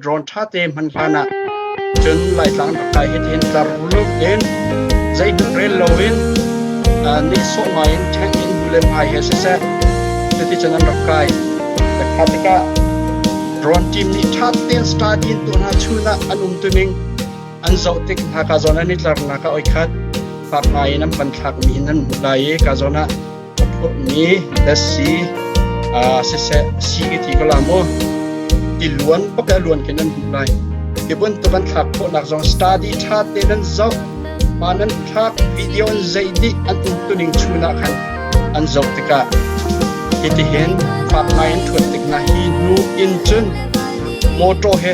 Drone ṭhate hman hlanah cun Laitlang rak kai hitihin tlarluk in zeitluk rel loin nehsawh ngaiin tank in bu le pai he siseh cuticun an rak kai. Kha tikah drone team nih ṭhatein studying tu hna chun ah an um tuning an zoh tik hna ka zawn an i tlarnak a oi khat fak ngaiin an pan thlakmi hin an hmu lai i ka zawn ah Ka phurhmi thetse ah siseh a si ka ti ko la maw? Tiluan pakai luan khin an duh lai. Hi bantuk an thlak khawhnak zong study ṭha tein an zoh. Pa nan thlak video an zeih dih an umtuning chun ah khan an zoh tikah hitihin faak ngai an ṭhuat tik hna hi nu in cun mawṭaw he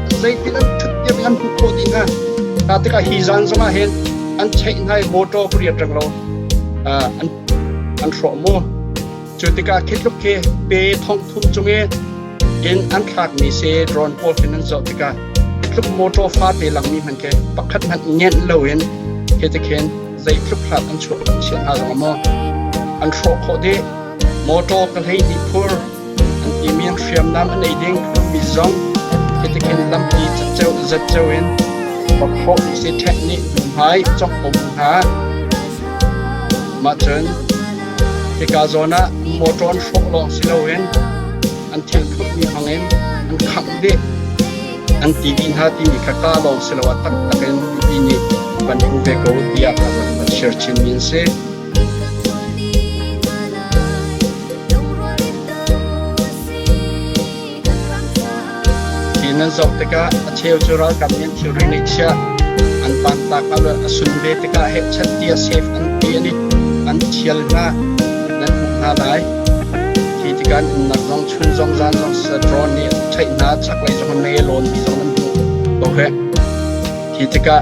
Zeitin an ṭhuttiam hi an hmuh khawh dih hna. Hna tikah hi zan zongah hin an cheih hna i mawṭaw pariat reng lo an an hrawh mu. Cu tikah khi tluk khi pe thong thum cung i in an thlakmi sii drone pawl khi nan zoh tikah hi tluk mawṭaw fate langmi hmanh khi pakhat hmanh ngenh loin khi tikhin zei tluk hlat an chuak an chiah hna zong a maw an hrawh khawh dih. Mawṭaw ka hleihnih phur I min hriamnam an ei ding mi zong hitihin lampi zatceo in pakhawh sethek nih hnuhmai cawk um hna. Mahcun hika zawn ah motor an hrawh lawng si loin an thil phutmi hmangin an khangh dih an ti dih hna timi kha ka lawng si lo a taktak in ti nih kan hmu ve ko tiah ka van share chin mi an si. Hi nan zoh tikah a cheu cu ralkap nih an thilri ngeih chiah an pantak a a sun ve tikah hehchat tia safe an ti an i an thial hna nan hmuh hna lai khi tikah nunnak zong chun zong zan zong sadron nih theih hna chaklei zong an ngei lawn ti zong nan hmuh ko heh khi tikah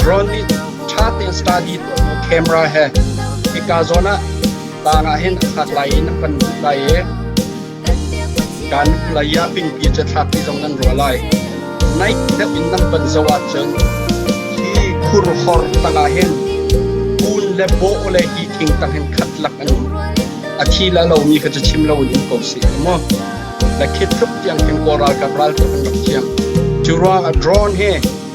Drone nih ṭha tein study tuahtu camera he hika zawn ah tlang ah hin a thlak lai i an kan luh lai i kan hlei ah pingpi cu thlak ti zong nan ruah lai. Naik deuh in nan panh zoh ahcun hi khurhor tangah hin kun le baw le hi thing tang hin khat lak an um. A thi la lomi kha cu chim lo in um ko sih maw. Le khit thlup tiang khin kaw ralkap ralkap an rak ciang. Cu ruang ah drone hi